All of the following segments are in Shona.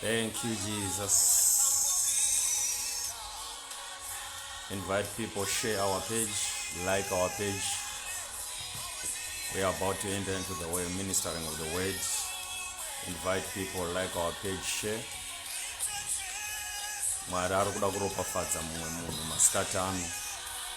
Thank you, Jesus. Invite people, share our page, like our page. We are about to enter into the way ministering of the word. Invite people, like our page, share. mwari ari kuda kuropafadza mumwe munhu masikati ano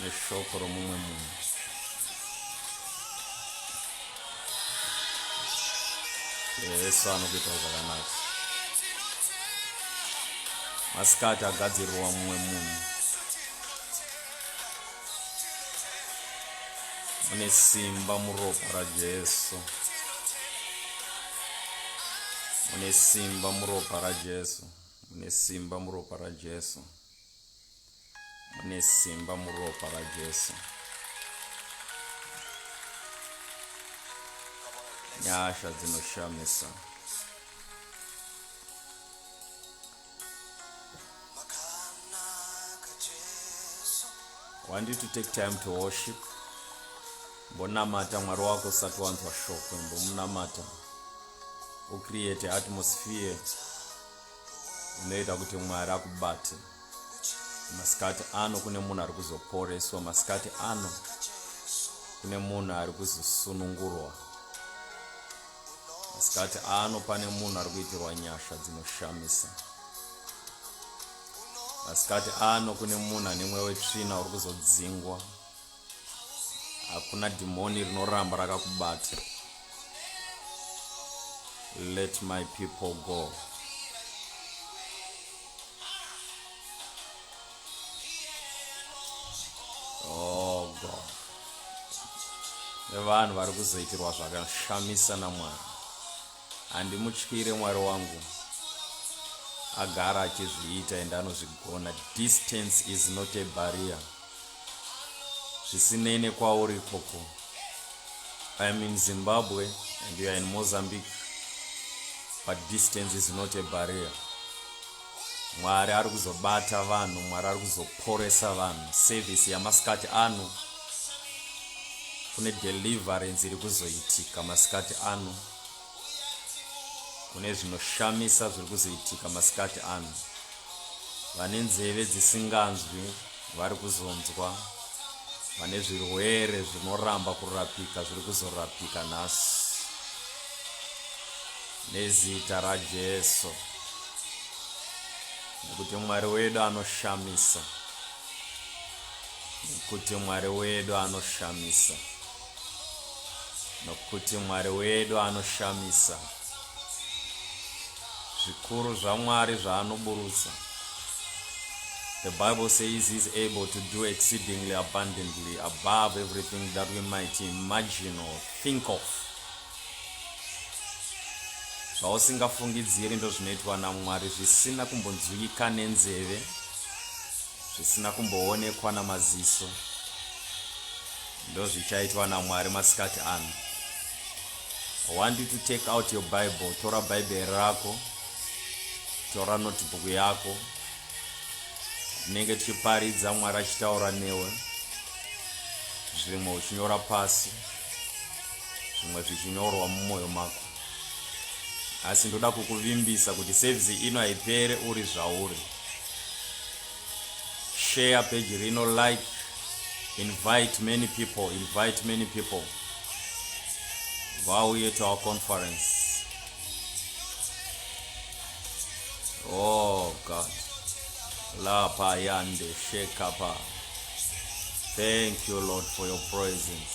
neshoko romumwe munhu yesu anokuita zvakanaka masikati agadzirirwa mumwe munhu mune simba muropa rajesu mune simba muropa rajesu mune simba muropa rajesu mune simba muropa rajesu nyasha dzinoshamisa want you to take time to worship mbonamata mwari wako usati wanzwa shoko mbomunamata ucreate atmosphere inoita kuti mwari akubate masikati ano kune munhu ari kuzoporeswa masikati ano kune munhu ari kuzosunungurwa masikati ano pane munhu ari kuitirwa nyasha dzinoshamisa masikati ano kune munhu ane mweya wetsvina uri kuzodzingwa hakuna dhimoni rinoramba rakakubata let my people go oh god nevanhu vari kuzoitirwa zvakashamisa namwari handimutyire mwari wangu agara achizviita ende anozvigona distance is not a barrier zvisinei nekwauri ikoko i am in zimbabwe and you are in mozambique but distance is not a barrier mwari ari kuzobata vanhu mwari ari kuzoporesa vanhu service yamasikati ano kune deliverance iri kuzoitika masikati ano kune zvinoshamisa zviri kuzoitika masikati ano vane nzeve dzisinganzwi vari kuzonzwa vane zvirwere zvinoramba kurapika zviri kuzorapika nhasi nezita rajesu nekuti mwari wedu anoshamisa nekuti mwari wedu anoshamisa nokuti Mwari wedu anoshamisa. Zvikuru zvaMwari zvaanoburutsa. The Bible says he's able to do exceedingly abundantly above everything that we might imagine or think of. Zvausingafungidziri ndozvinoitwa naMwari zvisina kumbonzwika nenzeve. zvisina kumboonekwa namaziso ndozvichaitwa namwari masikati ano i want you to take out your bible tora bhaibheri rako tora notebook yako tinenge tichiparidza mwari achitaura newe zvimwe uchinyora pasi zvimwe zvichinyorwa mumwoyo mako asi ndoda kukuvimbisa kuti service ino haipere uri zvauri share page rino like invite many people invite many people vauye to our conference oh god lapa yande shekapa thank you lord for your presence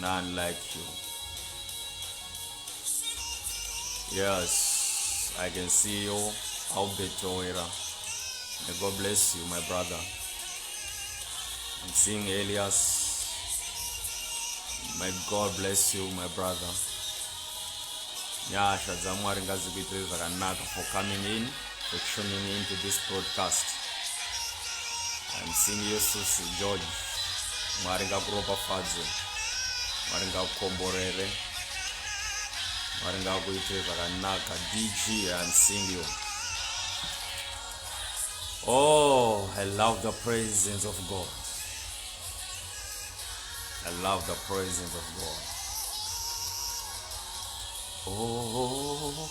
none like you yes i can see you albert owera may god bless you my brother i'm seeing elias may god bless you my brother nyasha dzamwari ngadzikuitire zvakanaka for coming in for tuning in to this broadcast. I'm seeing you, Susi George. Mwari ngakuropafadze. Mwari ngakukomborere. Mwari ngakuitire zvakanaka. DG, I'm seeing you. Oh, I love the presence of God. I love the presence of God. Oh.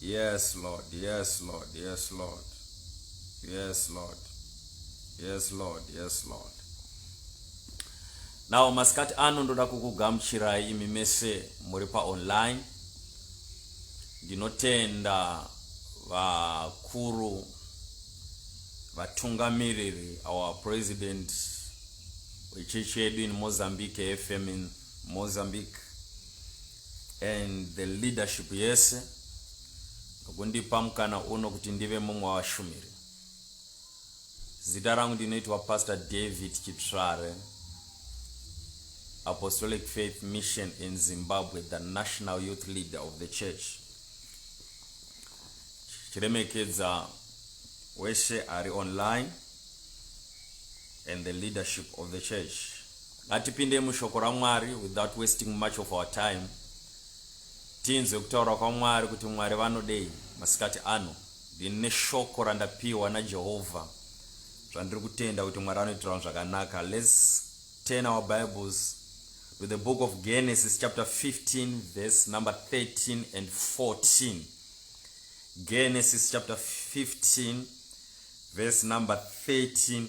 Yes Lord, yes Lord, yes Lord. Yes Lord. Yes Lord, yes Lord. Now masikati ano ndoda kukugamuchirai imi mese muri pa online. Ndinotenda vakuru vatungamiriri our president wechechi yedu in Mozambique FM in Mozambique and the leadership yese nokundipa mukana uno kuti ndive mumwe wavashumiri. Zita rangu ndinoitwa Pastor David Chitsvare, Apostolic Faith Mission in Zimbabwe, the national youth leader of the church. Chiremekedza wese ari online and the leadership of the church. Ngatipinde mushoko raMwari without wasting much of our time tinzwe kutaura kwaMwari kuti Mwari vanodei masikati ano. Ndini neshoko randapiwa naJehovha zvandiri kutenda kuti Mwari anoitirawo zvakanaka. Let's turn our Bibles to the book of Genesis chapter 15 verse number 13 and 14. Genesis chapter 15 verse number 13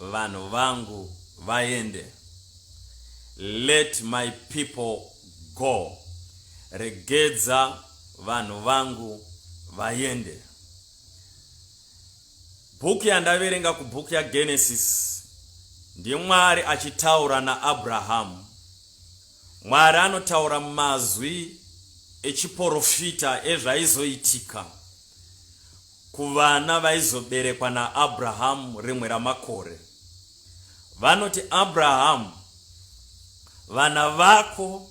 Vanhu vangu vaende. Let my people go. Regedza vanhu vangu vaende. Bhuku yandaverenga kubhuku yaGenesis ndiMwari achitaura naAbrahamu. Mwari anotaura mazwi echiporofita ezvaizoitika. Kuvana vaizoberekwa naAbrahamu rimwe ramakore, vanoti, Abrahamu, vana vako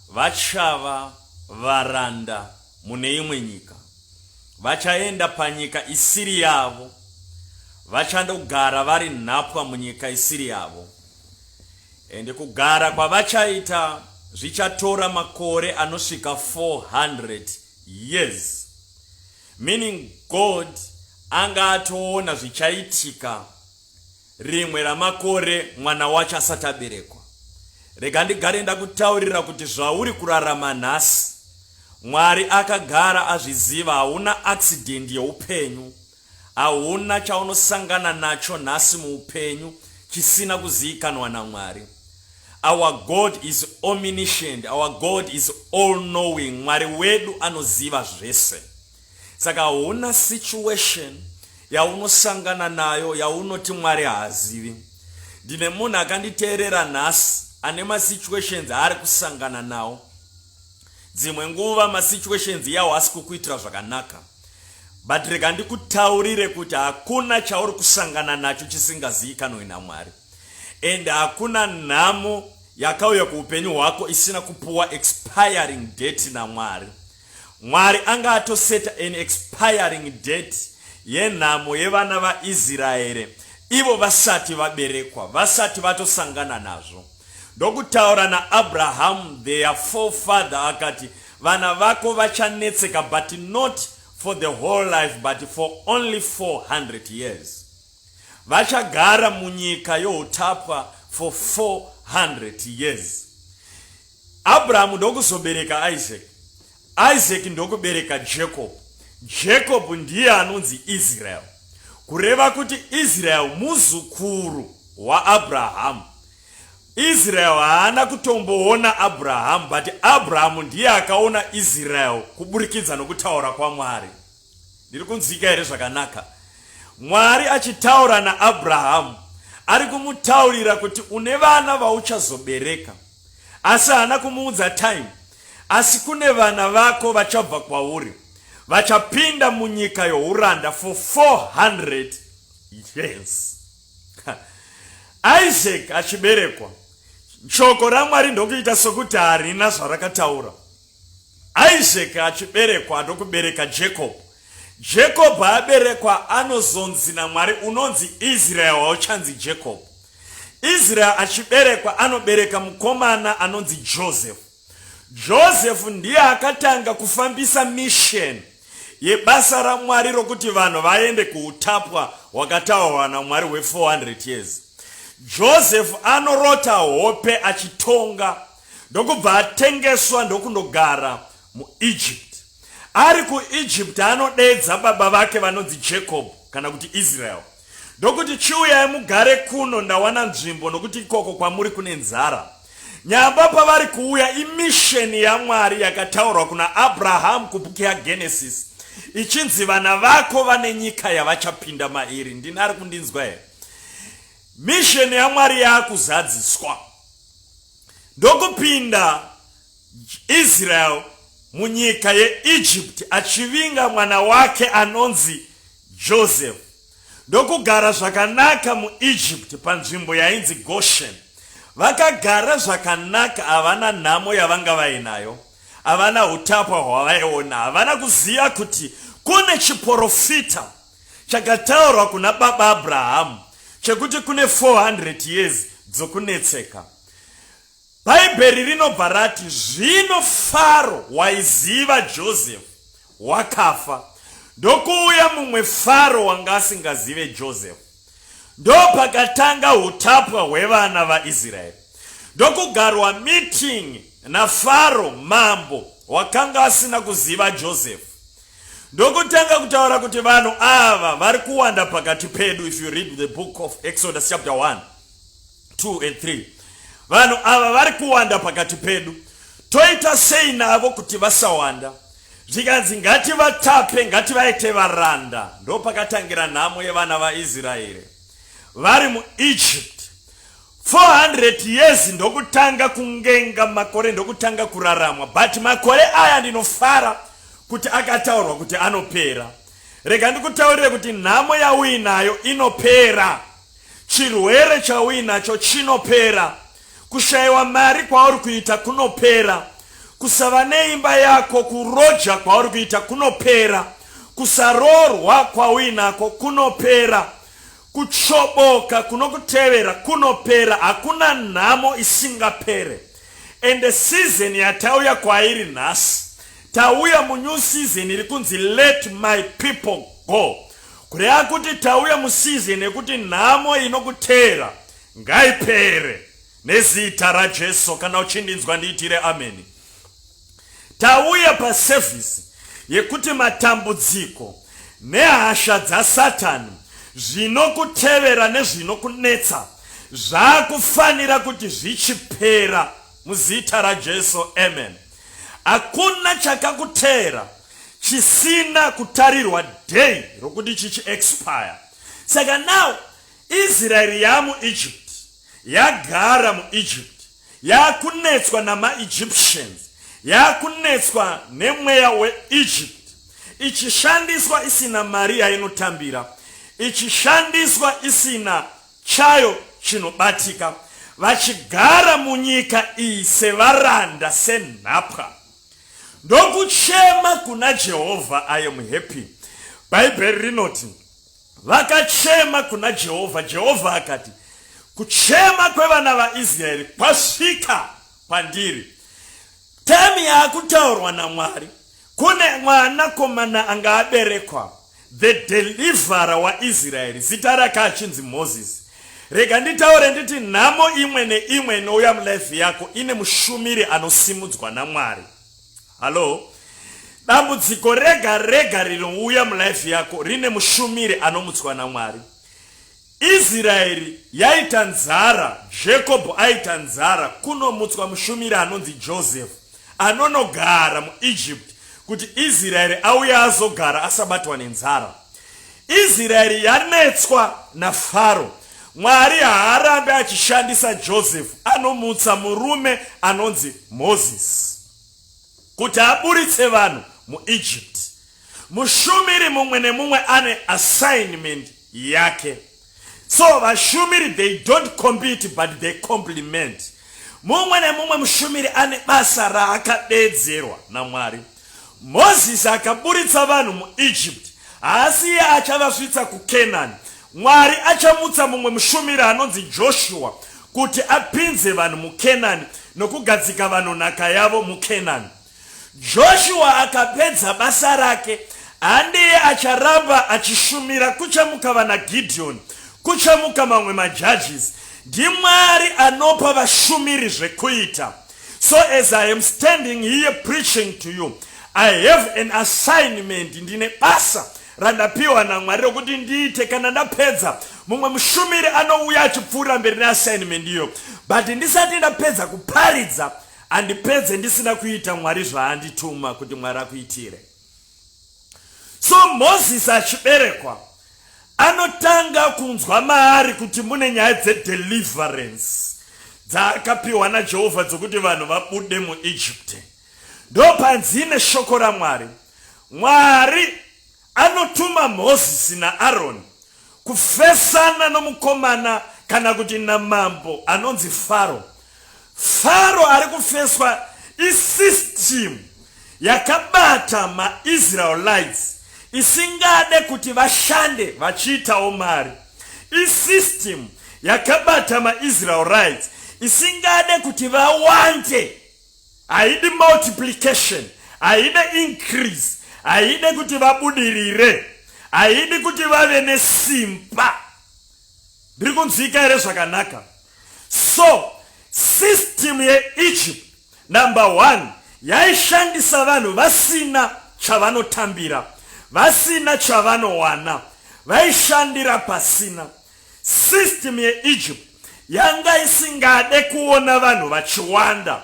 vachava varanda mune imwe nyika. Vachaenda panyika isiri yavo, vachandogara vari nhapwa munyika isiri yavo. Ende kugara kwavachaita zvichatora makore anosvika 400 years. Meaning God anga atoona zvichaitika rimwe ramakore mwana wacho asati aberekwa. Rega ndigare ndakutaurira kuti zvauri kurarama nhasi Mwari akagara azviziva hauna accident yeupenyu. Hauna chaunosangana nacho nhasi muupenyu chisina kuziikanwa naMwari. Our God is omniscient, our God is all knowing, Mwari wedu anoziva zvese. Saka hauna situation yaunosangana nayo yaunoti Mwari haazivi. Ndine munhu akanditeerera nhasi ane masituations aari kusangana nawo. Dzimwe nguva masituations yawo asi kukuitira zvakanaka. But rega ndikutaurire kuti hakuna chauri kusangana nacho chisingazivikanwe naMwari. and hakuna nhamo yakauya kuupenyu hwako isina kupuwa expiring date namwari mwari anga atoseta an expiring date yenhamo yevana vaisraeri ivo vasati vaberekwa vasati vatosangana nazvo ndokutaura naabrahamu their forefather akati vana vako vachanetseka but not for the whole life but for only 400 years Vachagara munyika youtapwa for 400 years. Abrahamu ndokuzobereka Isaac. Isaac ndokubereka Jacob. Jacob ndiye anonzi Israel. Kureva kuti Israel muzukuru waAbrahamu. Israel haana kutomboona Abrahamu but Abrahamu ndiye akaona Israel kuburikidza nokutaura kwaMwari. Ndiri kunzwika here zvakanaka? Mwari achitaura naAbrahamu ari kumutaurira kuti une vana vauchazobereka, asi haana kumuudza time. Asi kune vana vako vachabva kwauri, vachapinda munyika youranda for 400 years. Isaac achiberekwa, shoko raMwari ndokuita sokuti harina zvarakataura. Isaac achiberekwa ndokubereka Jacob. Jacob aberekwa anozonzi naMwari unonzi Israel hauchanzi Jacob. Israel achiberekwa anobereka mukomana anonzi Joseph. Joseph ndiye akatanga kufambisa mission yebasa raMwari rokuti vanhu vaende kuutapwa hwakataurwa naMwari hwe 400 years. Joseph anorota hope achitonga. ndokubva atengeswa ndokundogara muEgypt. Ari kuEgypt anodedza baba vake vanonzi Jacob kana kuti Israel ndokuti, Chiuyai mugare kuno, ndawana nzvimbo, nokuti ikoko kwamuri kune nzara. Nyamba pavari kuuya imisheni yaMwari yakataurwa kuna Abrahamu kubhuku yaGenesis ichinzi vana vako vane nyika yavachapinda mairi. Ndini ari kundinzwa here? Misheni yaMwari yaakuzadziswa. ndokupinda Israel munyika yeEgypt achivinga mwana wake anonzi Joseph ndokugara zvakanaka muEgypt panzvimbo yainzi Goshen. Vakagara zvakanaka, havana nhamo yavanga vainayo, havana utapwa hwavaiona, havana kuziva kuti kune chiporofita Chakataurwa kuna baba Abrahamu chekuti kune 400 years dzokunetseka. Bhaibheri rinobva rati, Zvino Faro waiziva Josefu wakafa, ndokuuya mumwe Faro wanga asingazive Josefu. Ndopakatanga utapwa hwevana vaIsraeri. Ndokugarwa meeting naFaro mambo wakanga asina kuziva Josefu. ndokutanga kutaura kuti vanhu ava vari kuwanda pakati pedu if you read the book of exodus chapter 1 2 and 3 vanhu ava vari kuwanda pakati pedu toita sei navo kuti vasawanda zvikanzi ngativatape ngativaite varanda ndo pakatangira nhamo yevana vaisraeri vari muegypt 400 years ndokutanga kungenga makore ndokutanga kuraramwa but makore aya ndinofara kuti akataurwa kuti anopera rega ndikutaurire kuti nhamo yauinayo inopera chirwere chauinacho chinopera kushayiwa mari kwauri kuita kunopera kusava neimba yako kuroja kwauri kuita kunopera kusaroorwa kwauinako kunopera Kutsvoboka kunokutevera kunopera hakuna nhamo isingapere ende season yatauya kwairi nhasi tauya munew season iri kunzi let my people go kureva kuti tauya museason yekuti nhamo inokuteera ngaipere nezita rajesu kana uchindinzwa ndiitire ameni Tauya pasevhisi yekuti matambudziko nehasha dzaSatani zvinokutevera nezvinokunetsa zvakufanira kuti zvichipera muzita raJesu amen. Hakuna chakakuteera chisina kutarirwa day rokuti chichi expire. Saka now Israeri yamu Egypt yagara mu Egypt Yaakunetswa namaEgyptians. Yaakunetswa nemweya weEgypt. Ichishandiswa isina mari yainotambira. Ichishandiswa isina chayo chinobatika. Vachigara munyika iyi sevaranda, senhapwa. Ndokuchema kuna Jehovha, I am happy. Bhaibheri rinoti, Vakachema kuna Jehovha, Jehovha akati, Kuchema kwevana vaIsraeri kwasvika kwandiri. Temu yakutaurwa naMwari, kune mwanakomana anga aberekwa, the deliverer waIsraeri, zita rake achinzi Mozisi. Rega nditaure nditi nhamo imwe neimwe inouya mulife yako ine mushumiri anosimudzwa naMwari. Hallo? Dambudziko rega rega rinouya mulife yako rine mushumiri anomutswa naMwari. Israeri yaita nzara, Jacob aita nzara kunomutswa mushumiri anonzi Joseph anonogara muEgypt kuti Israeri auye azogara asabatwa nenzara. Israeri yanetswa naFaro Mwari haarambe achishandisa Joseph anomutsa murume anonzi Moses kuti aburitse vanhu muEgypt. Mushumiri mumwe nemumwe ane assignment yake. So vashumiri they don't compete but they complement. Mumwe nemumwe mushumiri ane basa raakadedzerwa naMwari. Mozisi akaburitsa vanhu muIjipiti, haasi iye achavasvitsa kuKenani. Mwari achamutsa mumwe mushumiri anonzi Joshua kuti apinze vanhu muKenani nokugadzika vanhu nhaka yavo muKenani. Joshua akapedza basa rake, handiye acharamba achishumira. Kuchamuka vana Gideoni, kuchamuka mamwe majudges. NdiMwari anopa vashumiri zvekuita. So as I am standing here preaching to you, I have an assignment, ndine basa randapiwa naMwari rokuti ndiite kana ndapedza. Mumwe mushumiri anouya achipfuura mberi neassignment iyo, but ndisati ndapedza kuparidza handipedze ndisina kuita Mwari zvaandituma kuti Mwari akuitire. so moses achiberekwa anotanga kunzwa maari kuti mune nyaya dzedeliverance dzaakapiwa najehovha dzokuti vanhu vabude muegypte ndopanzi ine shoko ramwari mwari anotuma mozisi naaroni kufesana nomukomana kana kuti namambo anonzi faro Faro ari kufeswa isystem yakabata maIsraelites isingade kuti vashande vachiitawo mari. Isystem yakabata maIsraelites isingade kuti vawande. Haidi multiplication, haide increase, haide kuti vabudirire, haidi kuti vave nesimba. Ndiri kunzwika here zvakanaka? So system yeEgypt number one yaishandisa vanhu vasina chavanotambira, vasina chavanowana, vaishandira pasina. System yeEgypt yanga isingade kuona vanhu vachiwanda.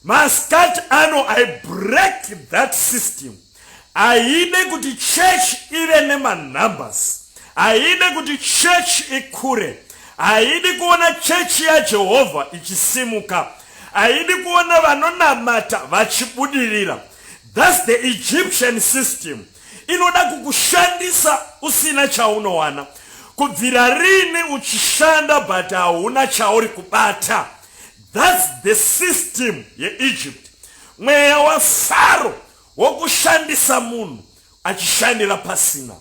Maskat ano I break that system. Haide kuti church ive nemanumbers. Haide kuti church ikure. Haidi kuona church yaJehovha ichisimuka. Haidi kuona vanonamata vachibudirira. That's the Egyptian system. Inoda kukushandisa usina chaunowana. Kubvira rini uchishanda but hauna chauri kubata. Thats the system yeEgypt. Mweya waFaro wokushandisa munhu achishandira pasina.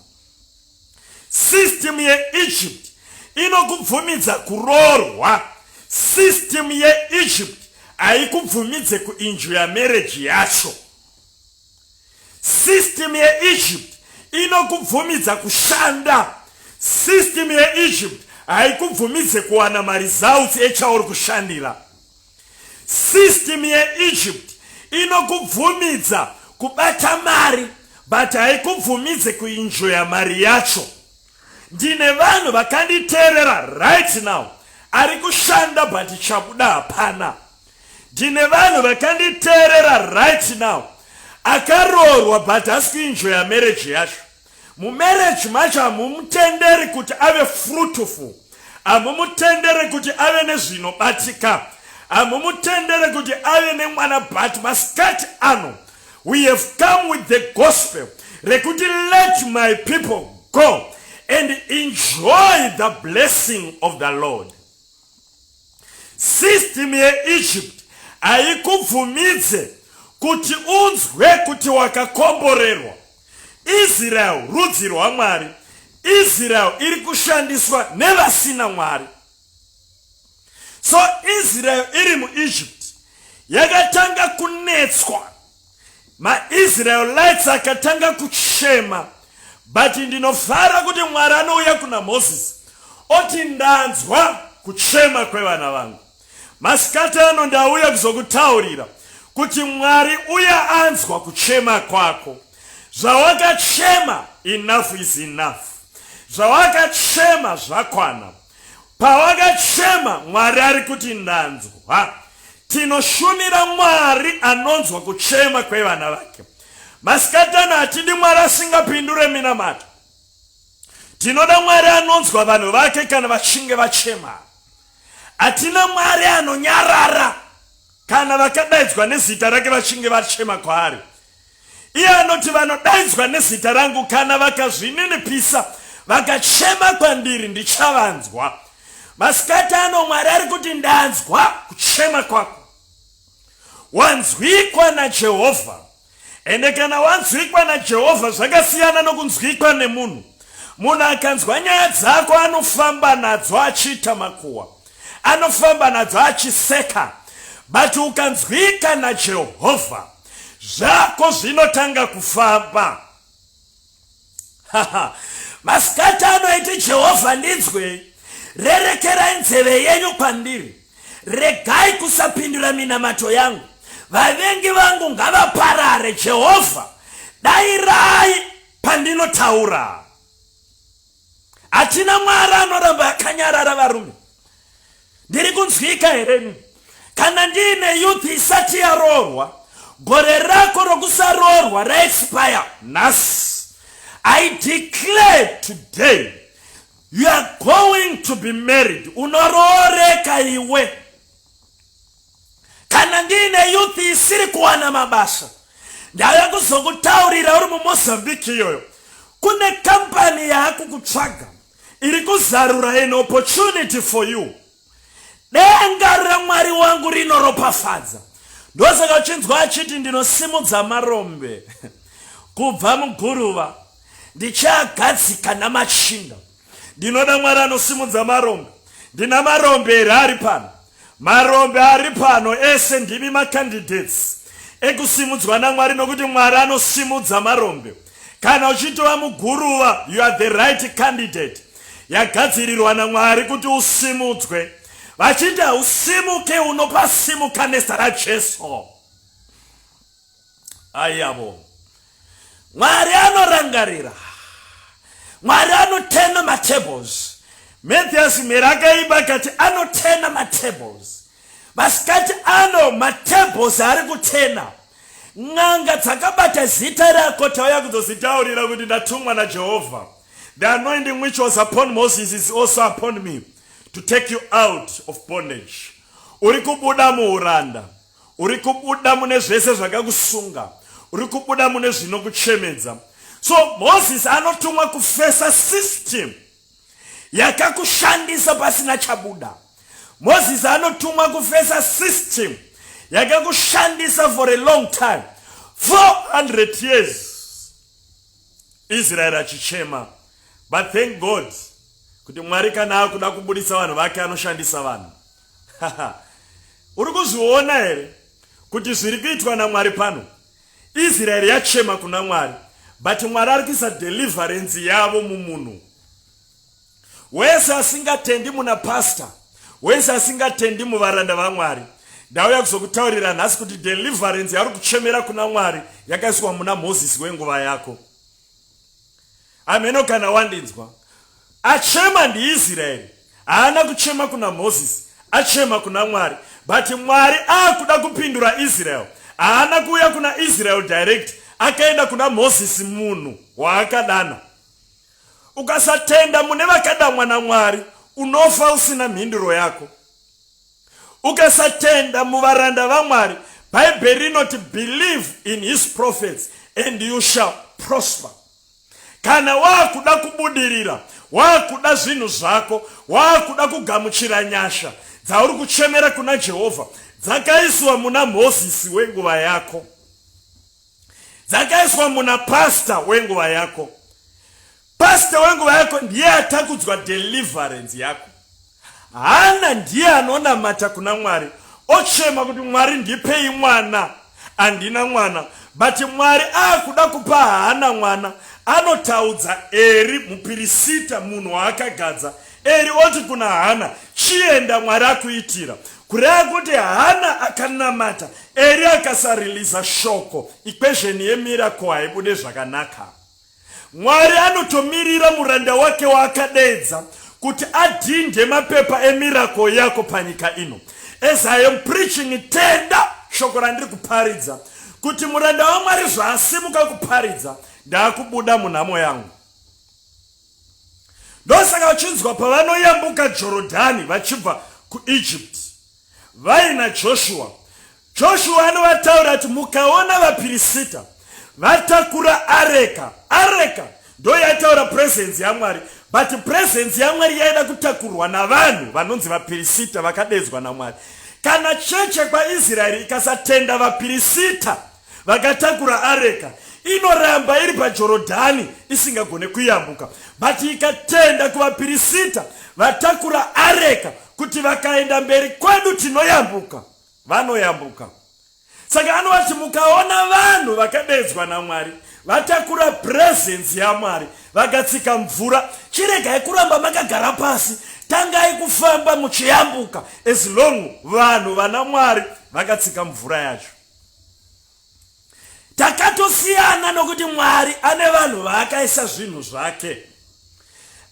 System yeEgypt inokubvumidza kuroorwa. System yeEgypt haikubvumidze kuinjuya mereji yacho. System yeEgypt inokubvumidza kushanda. System yeEgypt haikubvumidze kuwana maresults echauri kushandira. System yeEgypt inokubvumidza kubata mari but haikubvumidze kuinjoya mari yacho. Ndine vanhu vakanditerera right now ari kushanda but chakuda hapana. Ndine vanhu vakanditerera right now akaroorwa but hasi kuinjoya marriage yacho. Mumarriage macho hamumutenderi kuti ave fruitful, hamumutendere kuti ave nezvinobatika, hamumutendere kuti ave nemwana but masikati ano We have come with the gospel rekuti let my people go and enjoy the blessing of the Lord. System yeEgypt haikubvumidze kuti unzwe kuti wakakomborerwa. Israel rudzi rwaMwari. Israel iri kushandiswa nevasina Mwari. so israel iri muegypt yakatanga kunetswa maisraelites akatanga kuchema but ndinofara kuti mwari anouya kuna moses oti ndanzwa kuchema kwevana vangu masikati ano ndauya kuzokutaurira kuti mwari uya anzwa kuchema kwako zvawakachema enough is enough zvawakachema zvakwana Pawakachema, Mwari ari kuti, Ndanzwa. Tinoshumira Mwari anonzwa kuchema kwevana vake. Masikatana hatidi Mwari asingapindure minamato. Tinoda Mwari anonzwa vanhu vake kana vachinge vachema. Hatina Mwari anonyarara kana vakadaidzwa nezita rake vachinge vachema kwaari. Iye anoti, Vanodaidzwa nezita rangu, kana vakazvininipisa vakachema kwandiri, ndichavanzwa. Masikati ano Mwari ari kuti, Ndanzwa kuchema kwako. Wanzwikwa naJehovha. Ende kana wanzwikwa naJehovha zvakasiyana nokunzwikwa nemunhu. Munhu akanzwa nyaya dzako anofamba nadzo achiita makuwa, anofamba nadzo achiseka, but ukanzwika naJehovha zvako zvinotanga kufamba masikati anoiti jehovha ndinzwei rerekerai nzeve yenyu kwandiri regai kusapindura minamato yangu vavengi vangu ngavaparare jehovha dairai pandinotaura hatina mwari anoramba akanyarara varume ndiri kunzwika hereni kana ndiine youth isati yaroorwa gore rako rokusaroorwa raexpire nhasi i declare today you are going to be married unorooreka iwe kana ndiine youth isiri kuwana mabasa ndave kuzokutaurira uri mumozambique iyoyo kune kampani yaakukutsvaga iri kuzarura an opportunity for you denga ramwari wangu rinoropafadza ndosaka uchinzwa achiti ndinosimudza marombe kubva muguruva ndichiagadzika namachinda Ndinoda Mwari anosimudza marombe. Ndina marombe here ari pano? Marombe ari pano ese ndimi macandidates ekusimudzwa naMwari nokuti Mwari anosimudza marombe. Kana uchitova muguruva, you are the right candidate yagadzirirwa naMwari kuti usimudzwe. Vachiti hausimuke, unopasimuka nezita raJesu. ayavo mwari anorangarira mwari anotena matables mathias mheri akaiba kati anotena matables masikati ano matables ari kutena n'anga dzakabata zita rako tauya kuzozitaurira kuti ndatumwa najehovha the anointing which was upon moses is also upon me to take you out of bondage uri kubuda muuranda uri kubuda mune zvese zvakakusunga uri kubuda mune zvinokuchemedza so moses anotumwa kufesa system yakakushandisa pasina chabuda moses anotumwa kufesa system yakakushandisa for a long time 400 years israeri achichema but thank god kuti mwari kana akuda kubudisa vanhu vake anoshandisa vanhu Uri kuzviona here kuti zviri kuitwa naMwari pano? Israeri yachema kuna Mwari but Mwari ari kuisa deliverance yavo mumunhu wese asingatendi muna pastor wese asingatendi muvaranda vaMwari. Ndauya kuzokutaurira nhasi kuti deliverance yari kuchemera kuna Mwari yakaiswa muna Moses wenguva yako. hameno kana wandinzwa achema ndiisraeri haana kuchema kuna mozisi achema kuna mwari but mwari akuda kupindura israel haana kuuya kuna israel direct akaenda kuna mozisi munhu waakadana ukasatenda mune vakadamwa namwari unofa usina mhinduro yako Ukasatenda muvaranda vaMwari, Bhaibheri rinoti believe in his prophets and you shall prosper. Kana waakuda kubudirira, waakuda zvinhu zvako, waakuda kugamuchira nyasha dzauri kuchemera kuna Jehovha dzakaiswa muna Mozisi wenguva yako, dzakaiswa muna pasta wenguva yako. Pastor wenguva yako ndiye atakudzwa deliverance yako. Hana ndiye anonamata kuna Mwari ochema kuti Mwari ndipei mwana. Andina mwana but Mwari akuda kupa Hana mwana. Anotaudza Eri mupirisita munhu waakagadza. Eri oti kuna Hana chienda Mwari akuitira. Kureva kuti Hana akanamata Eri akasariliza shoko. Equation yemiracle haibude zvakanaka. Mwari anotomirira muranda wake waakadeedza kuti adhindhe mapepa emiracle yako panyika ino. As I am preaching, tenda shoko randiri kuparidza kuti muranda waMwari zvaasimuka kuparidza, ndaakubuda munhamo yangu. Ndosaka vachinzwa pavanoyambuka Jorodhani vachibva kuEgypt. Vaina Joshua. Joshua anovataura kuti mukaona vapirisita vatakura areka, areka ndo yaitaura presence yamwari but presence yamwari yaida kutakurwa navanhu vanonzi vapirisita vakadedzwa namwari kana cheche kwaisraeri ikasatenda vapirisita vakatakura areka inoramba iri pajorodhani isingagone kuyambuka but ikatenda kuvapirisita vatakura areka kuti vakaenda mberi kwedu tinoyambuka vanoyambuka saka anovati mukaona vanhu vakadedzwa namwari vatakura purezenzi yamwari vakatsika mvura chiregai kuramba makagara pasi tangai kufamba muchiyambuka as long vanhu vana mwari vakatsika mvura yacho takatosiyana nokuti mwari ane vanhu vaakaisa zvinhu zvake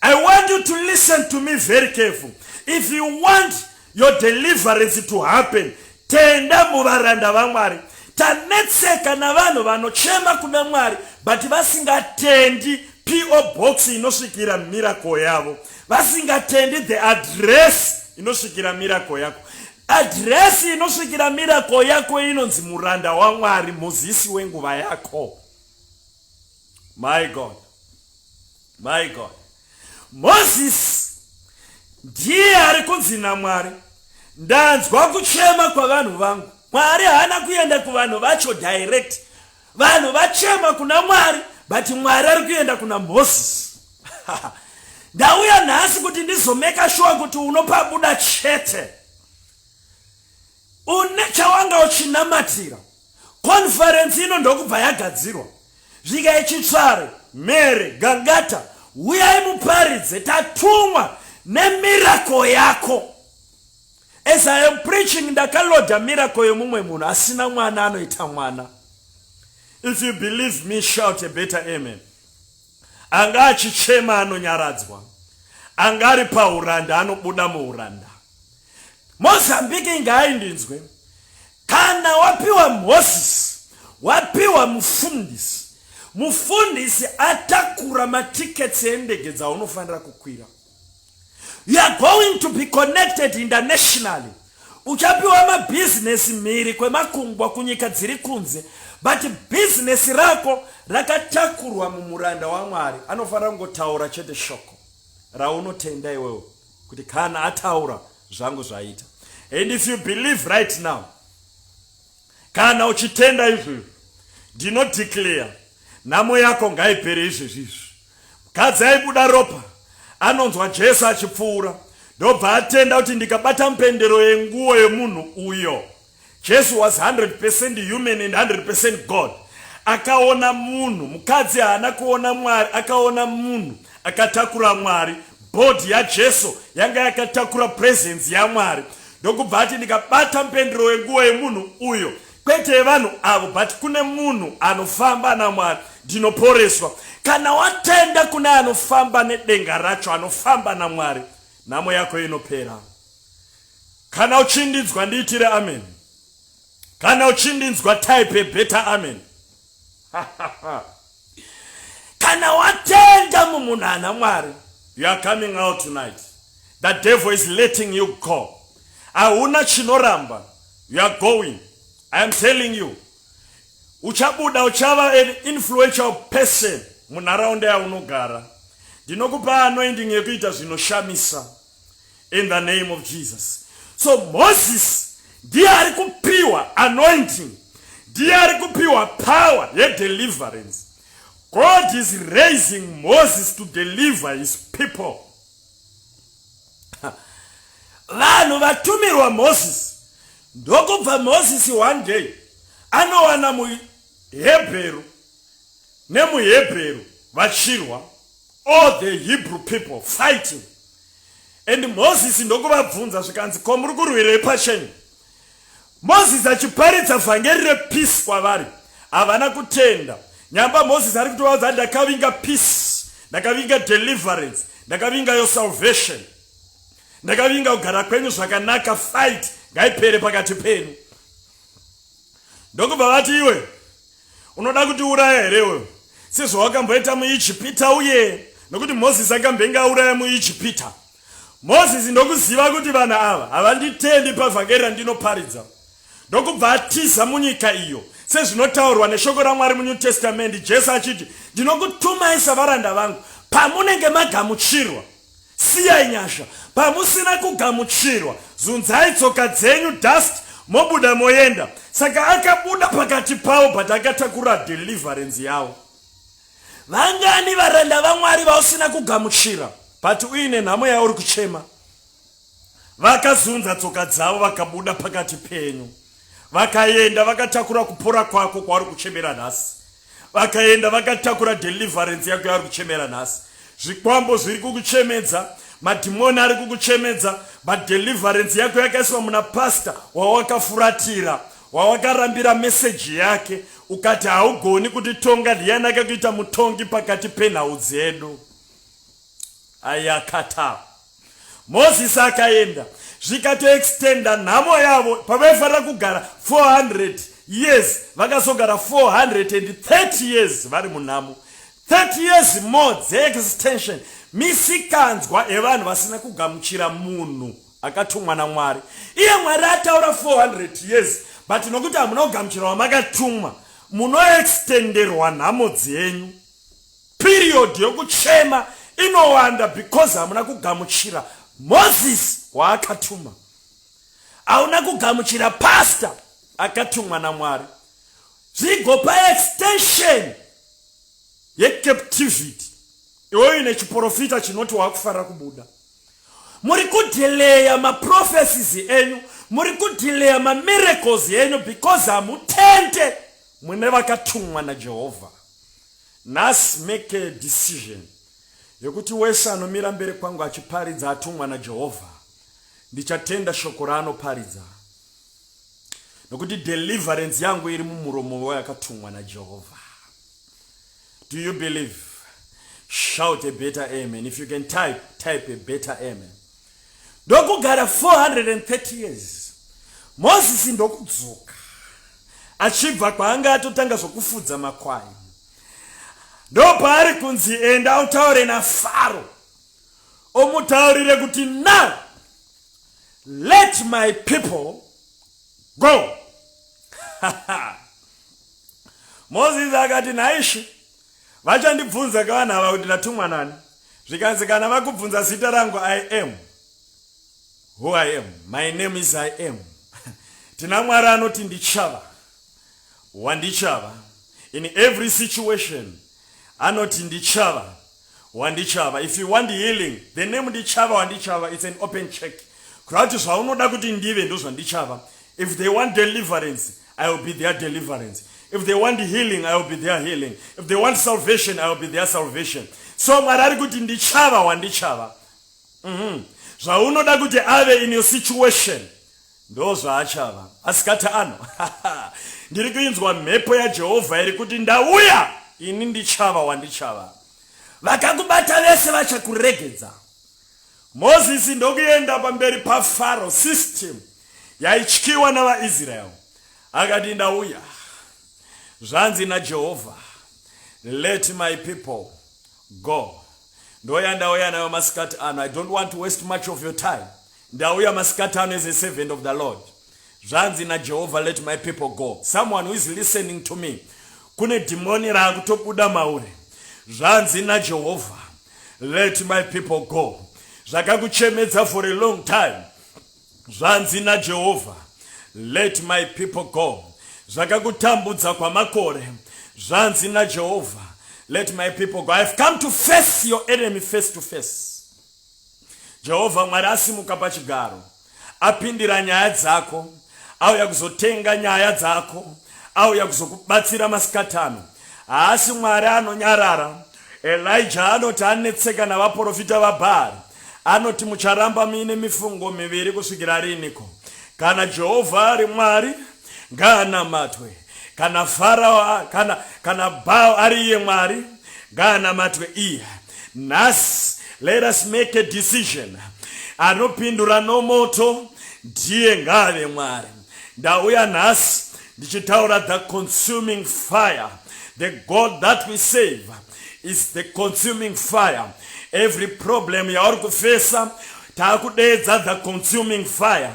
i want you to listen to me very careful if you want your deliverance to happen tenda muvaranda vamwari tanetseka navanhu vanochema kuna mwari but vasingatendi po box inosvikira miracle yavo vasingatendi the address inosvikira miracle yako Adhiresi inosvikira mirako yako inonzi muranda waMwari, muzisi wenguva yako. My God, my God, Mozisi ndiye ari kunzi naMwari, ndanzwa kuchema kwavanhu vangu. Mwari haana kuenda kuvanhu vacho direct, Vanhu vachema kuna Mwari but Mwari ari kuenda kuna Moses. Ndauya nhasi kuti ndizomeka shuwa kuti unopabuda chete. Une chawanga uchinamatira. Conference ino ndokubva yagadzirwa. Zvika ichitsvare, mere, gangata, huyai muparidze tatumwa nemirako yako. As I am preaching ndakaloda miracle yemumwe munhu asina mwana anoita mwana. If you believe me shout a better amen. Anga achichema anonyaradzwa. Anga ari pauranda anobuda muuranda. Mozambique inga aindinzwe. Kana wapiwa mhosisi, wapiwa mufundisi. Mufundisi atakura matiketsi endege dzaunofanira kukwira. You are going to be connected internationally. Uchapiwa mabhizinesi mhiri kwemakungwa kunyika dziri kunze, but bhizinesi rako rakatakurwa mumuranda waMwari. Anofanira kungotaura chete shoko raunotenda iwewo kuti kana ataura zvangu zvaita. And if you believe right now, kana uchitenda izvozvo, ndinodeclare nhamo yako ngaipere izvezvi izvi. Mukadzi aibuda ropa anonzwa Jesu achipfuura ndobva atenda kuti ndikabata mpendero yenguwo yemunhu uyo. Jesu was 100% human and 100% God. Akaona munhu, mukadzi haana kuona Mwari, akaona munhu akatakura Mwari. Body yaJesu yanga yakatakura presence yaMwari. Ndokubva ati ndikabata mpendero yenguwo yemunhu uyo kwete yevanhu avo but kune munhu anofamba namwari ndinoporeswa kana watenda kune anofamba nedenga racho anofamba namwari nhamo yako inopera kana uchindinzwa ndiitire amen kana uchindinzwa type better amen kana watenda mumunhu ana mwari you are coming out tonight the devil is letting you go hauna chinoramba you are going i am telling you uchabuda uchava an influential person munharaunda yaunogara ndinokupa anoending yekuita zvinoshamisa in the name of jesus so moses ndiye ari kupiwa anointing ndiye ari kupiwa power yedeliverance god is raising moses to deliver his people vanhu vatumirwa moses ndokubva moses one day anowana muhebheru nemuhebheru vachirwa all the hebrew people fighting and moses ndokuvabvunza zvikanzi ko muri kurwirei pachenyu moses achiparidza vhangeri repeace kwavari havana kutenda nyamba moses ari kutovaudza ndakavinga peace ndakavinga deliverance ndakavinga yo salvation ndakavinga kugara kwenyu zvakanaka fight ngaipere pakati penyu ndokubva vati iwe Unoda kuti uraya here iwewe sezvawakamboita muIjipita uye nokuti Mozisi akambenge auraya muIjipita? Mozisi ndokuziva kuti vanhu ava havanditendi pavhangeri randinoparidza ndokubva atiza munyika iyo sezvinotaurwa neshoko raMwari muNew Testament Jesu achiti ndinokutumai savaranda vangu pamunenge magamuchirwa Siyai nyasha pamusina kugamuchirwa zunzai tsoka dzenyu dust mobuda moenda saka akabuda pakati pavo but akatakura deliverance yavo. Vangani varanda vaMwari vausina kugamuchira but uine nhamo yauri kuchema? Vakazunza tsoka dzavo vakabuda pakati penyu vakaenda vakatakura kupora kwako kwauri kuchemera nhasi. vakaenda vakatakura deliverance yako yavari kuchemera nhasi zvikwambo zviri kukuchemedza madhimoni ari kukuchemedza but deliverance yako yakaiswa muna pasta wawakafuratira wawakarambira meseji yake ukati haugoni kuti tonga ndiyani akakuita mutongi pakati penhau dzedu ayakata Moses akaenda zvikatoextenda nhamo yavo pavaifanira kugara 400 years vakazogara 430 years vari munhamo 30 years more dzeextension misikanzwa evanhu vasina kugamuchira munhu akatumwa namwari iye mwari ataura 400 years but nokuti hamuna kugamuchira wamakatumwa munoextenderwa nhamo dzenyu Period yokuchema inowanda because hamuna kugamuchira Moses waakatuma. Hauna kugamuchira pastor akatumwa naMwari. Zvigopa extension yecaptivity iwoyo ine chiporofita chinoti wakufarira kubuda. Muri kudhileya maprofesis enyu, muri kudhileya mamiracles enyu because hamutende mune vakatumwa naJehovha. Nhasi make a decision yekuti wese anomira mberi kwangu achiparidza atumwa naJehovha ndichatenda shoko raanoparidza nokuti deliverance yangu iri mumuromo weyakatumwa naJehovha. Do you believe? Shout a better amen. If you can type, type a better amen. ndokugara 430 years mozisi ndokudzoka achibva kwaanga atotanga zvokufudza makwai ndopaari kunzi enda utaure nafaro omutaurire kuti now let my people go mozisi akati nhaishe Vachandibvunza ka vanhu ava kuti ndatumwa nani. Zvikanzi kana vakubvunza zita rangu I am who I am. My name is I am. Tina Mwari anoti ndichava wandichava. In every situation anoti ndichava wandichava. If you want healing, the name ndichava wandichava it's an open check. Kureva kuti zvaunoda kuti ndive ndozvandichava. If they want deliverance, I will be their deliverance. If they want healing, I will be their healing. If they want salvation, I will be their salvation. So Mwari ari kuti ndichava wandichava. Mhm. Zvaunoda kuti ave in your situation. Ndo zvaachava. Asikati ano. Ndiri kuinzwa mhepo yaJehovha iri kuti ndauya ini ndichava wandichava. Vakakubata vese vachakuregedza. Mozisi ndokuenda pamberi paFaro, system yaityiwa navaIsrael, akati, Ndauya, zvanzi naJehovha, let my people go. Ndoya ndauya nayo masikati ano. I don't want to waste much of your time. Ndauya masikati ano as a servant of the Lord. Zvanzi naJehovha, Let my people go. Someone who is listening to me. Kune dhimoni raakutobuda mauri. Zvanzi naJehovha, Let my people go. Zvakakuchemedza for a long time. Zvanzi naJehovha, Let my people go. Zvakakutambudza kwamakore. Zvanzi naJehovha, Let my people go. I have come to face your enemy face to face. Jehovha Mwari asimuka pachigaro, apindira nyaya dzako, auya kuzotenga nyaya dzako, auya kuzokubatsira masikati ano. Haasi Mwari anonyarara. Elijah anoti anetseka navaprofita vaBhaari. Anoti mucharamba muine mifungo miviri kusvikira riniko? Kana Jehovha ari Mwari, ngaanamatwe. kana farao kana kana bao ari iye mwari ngaanamatwe iye nhasi let us make a decision anopindura nomoto ndiye ngaave mwari ndauya nhasi ndichitaura the consuming fire the god that we save is the consuming fire every problem yauri kufesa taakudeedza the consuming fire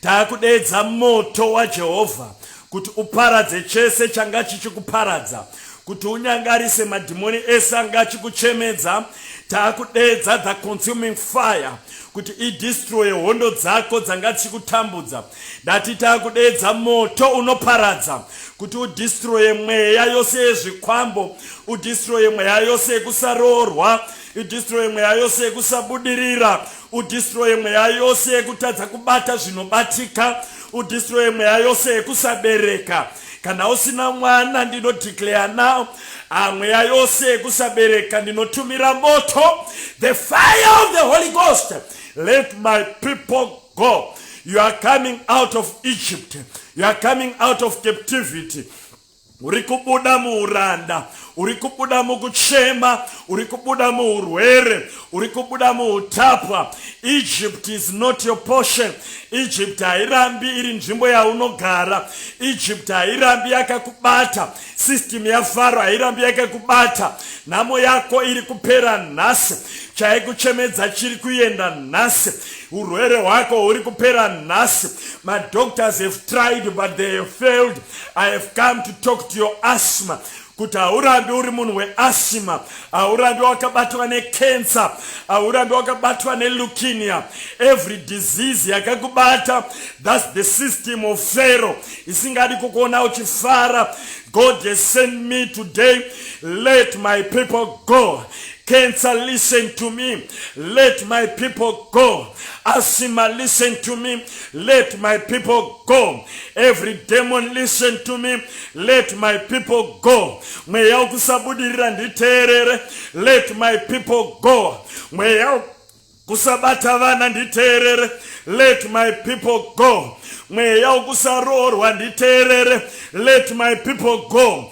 taakudeedza moto wajehovha kuti uparadze chese changa chichikuparadza kuti unyangarise madhimoni ese anga achikuchemedza taakudeedza the consuming fire kuti idistroye hondo dzako dzanga dzichikutambudza ndati taakudeedza moto unoparadza kuti udistroye mweya yose yezvikwambo udistroye mweya yose yekusaroorwa idistroye mweya yose yekusabudirira udistroye mweya yose yekutadza kubata zvinobatika udistroye mweya yose yekusabereka kana usina mwana ndinodeclare now ah, mweya yose yekusabereka ndinotumira moto the fire of the holy ghost let my people go you are coming out of egypt you are coming out of captivity Uri kubuda muuranda, uri kubuda mukuchema, uri kubuda muurwere, uri kubuda muutapwa. Egypt is not your portion. Egypt hairambi iri nzvimbo yaunogara. Egypt hairambi yakakubata. System yaFaro hairambi yakakubata. Nhamo yako iri kupera nhasi. Chaikuchemedza chiri kuenda nhasi. Urwere hwako huri kupera nhasi. Madoctors have tried but they have failed. I have come to talk to your asthma kuti haurambi uri munhu weasima haurambi wakabatwa necancer haurambi wakabatwa nelukinia every disease yakakubata thats the system of fero isingadi kukuona uchifara god has sent me today let my people go Cancer, listen to me. Let my people go. Asima, listen to me. Let my people go. Every demon listen to me. Let my people go. Mweya ukusabudirira nditeerere. Let my people go. Mweya kusabata vana nditeerere let my people go mweya wekusaroorwa nditeerere let my people go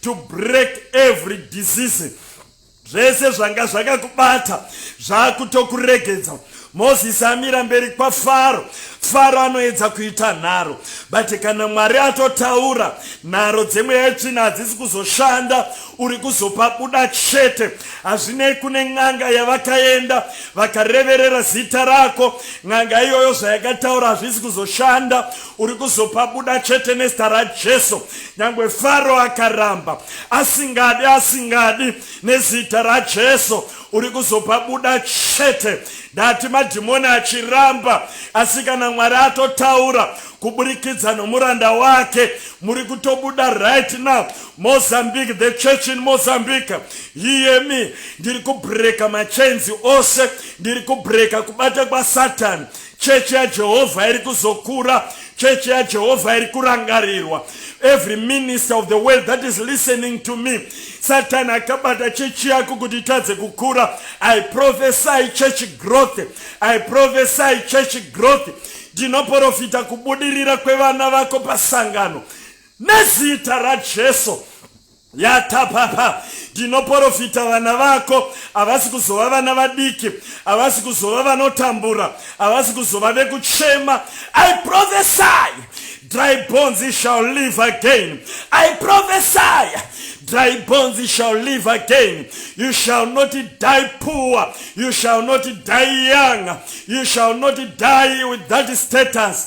to break every disease zvese zvanga zvakakubata zvakutokuregedza mozisi amira mberi kwafaro faro anoedza kuita nharo but kana mwari atotaura nharo dzemweya yetsvina hadzisi kuzoshanda uri kuzopa buda chete hazvinei kune n'anga yavakaenda vakareverera zita rako n'anga iyoyo zvayakataura hazvisi kuzoshanda uri kuzopa buda chete nezita rajesu Nyangwe Faro akaramba asingadi asingadi nezita raJesu uri kuzopa buda chete ndati madhimoni achiramba asi kana Mwari atotaura kuburikidza nomuranda wake muri kutobuda right now Mozambique the church in Mozambique yiyemi ndiri kubreaka machains ose ndiri kubreaka kubata kwasatan Chechi yaJehovha iri kuzokura. Chechi yaJehovha iri kurangarirwa. Every minister of the world that is listening to me, Satan akabata chechi yako kuti itadze kukura. I prophesy church growth. I prophesy church growth. Ndinoporofita kubudirira kwevana vako pasangano nezita raJesu. yatapapa ndinoporofita vana vako havasi kuzova vana vadiki havasi kuzova vanotambura havasi kuzova vekuchema i prophesy dry bones shall live again i prophesy dry bones shall live again you shall not die poor you shall not die young you shall not die with that status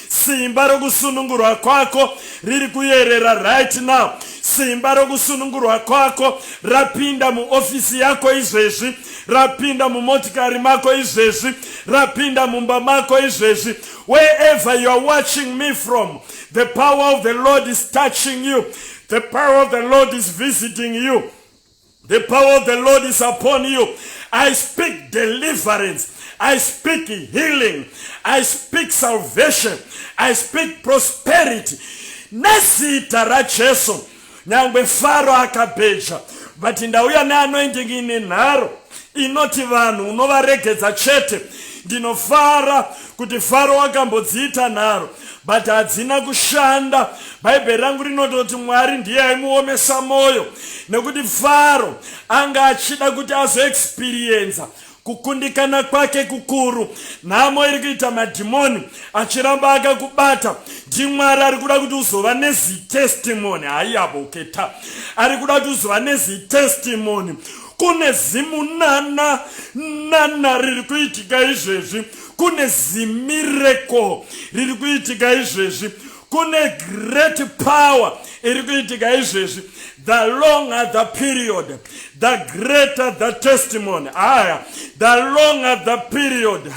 Simba rokusunungurwa kwako riri kuyerera right now. Simba rokusunungurwa kwako rapinda muofisi yako izvezvi, rapinda mumotikari mako izvezvi, rapinda mumba mako izvezvi. Wherever you are watching me from, the power of the Lord is touching you. The power of the Lord is visiting you. The power of the Lord is upon you. I speak deliverance. I speak healing. I speak salvation. I speak prosperity. Nezita raJesu. Nyangwe Faro akabheja. But ndauya neanointing ine nharo. Inoti vanhu unovaregedza chete. Ndinofara kuti Faro wakambodziita nharo but hadzina kushanda. Bhaibheri rangu rinototi Mwari ndiye aimuomesa mwoyo nekuti Faro anga achida kuti azoexperienza kukundikana kwake kukuru. Nhamo iri kuita madhimoni achiramba akakubata ndiMwari ari kuda kuti uzova nezitestimony. Haiyaboketa ari kuda kuti uzova nezitestimony kune zimunana nana riri kuitika izvezvi kune zimireko riri kuitika izvezvi kune great power iri kuitika izvezvi the longer the period the greater the testimony aya the longer the period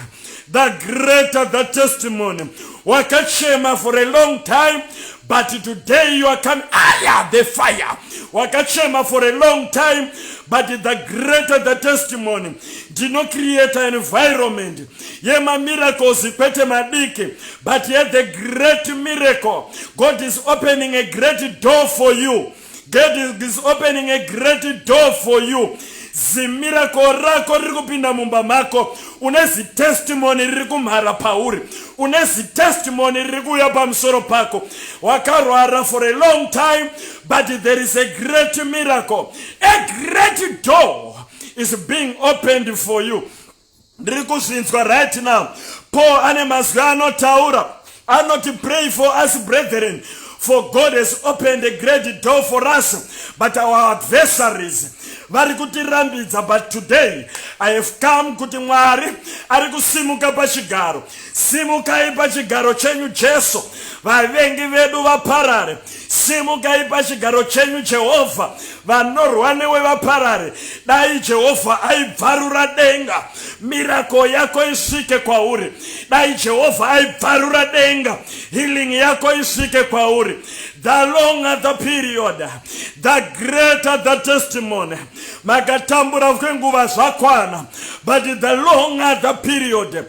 the greater the testimony wakachema for a long time but today you are coming aya the fire wakachema for a long time but the greater the testimony ndinocreata environment yemamiracles kwete madiki but yet the great miracle god is opening a great door for you god is opening a great door for you zimirako rako riri kupinda mumba mako une zitestimoni riri kumhara pauri une zitestimoni riri kuuya pamusoro pako wakarwara for a long time but there is a great miracle a great door is being opened for you ndiri kuzvinzwa right now paul ane mazwi anotaura anoti pray for us brethren for god has opened a great door for us but our adversaries vari kutirambidza but today i have come kuti mwari ari kusimuka pachigaro Simukai pachigaro chenyu Jesu, vavengi vedu vaparare. Simukai pachigaro chenyu Jehovha, vanorwa newe vaparare. Dai Jehovha aibvarura denga, mirako yako isvike kwauri. Dai Jehovha aibvarura denga, healing yako isvike kwauri. The longer the period, the greater the testimony. Makatambura kwenguva zvakwana, but the longer the period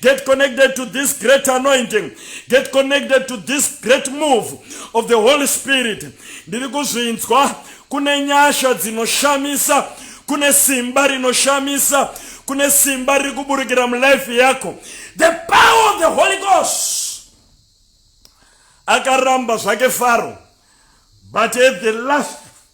Get connected to this great anointing. Get connected to this great move of the Holy Spirit. Ndiri kuzvinzwa kune nyasha dzinoshamisa, kune simba rinoshamisa, kune simba riri kuburikira mulife yako. The power of the Holy Ghost. Akaramba zvake Faro. But at the last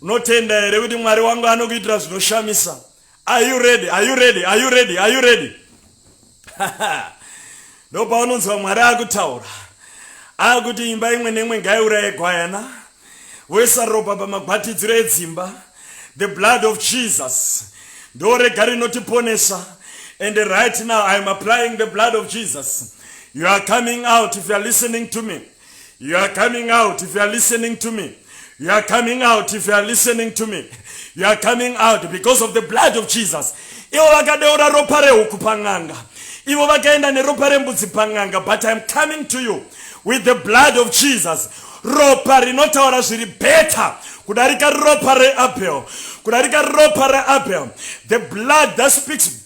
Unotenda here kuti Mwari wangu anokuitira zvinoshamisa? Are you ready? Are you ready? Are you ready? Are you ready? Ndopaunonzwa Mwari akutaura. Akuti imba imwe neimwe ngaiuraye gwayana. Voisa ropa pamagwatidziro edzimba. The blood of Jesus. Ndorega rinotiponesa. And right now I am applying the blood of Jesus. You are coming out if you are listening to me. You are coming out if you are listening to me. You are coming out if you are listening to me. You are coming out because of the blood of Jesus. Ivo vakadeura ropa rehuku pan'anga. Ivo vakaenda neropa rembudzi pan'anga but I am coming to you with the blood of Jesus. Ropa rinotaura zviri better kudarika ropa reAbel. Kudarika ropa reAbel. The blood that speaks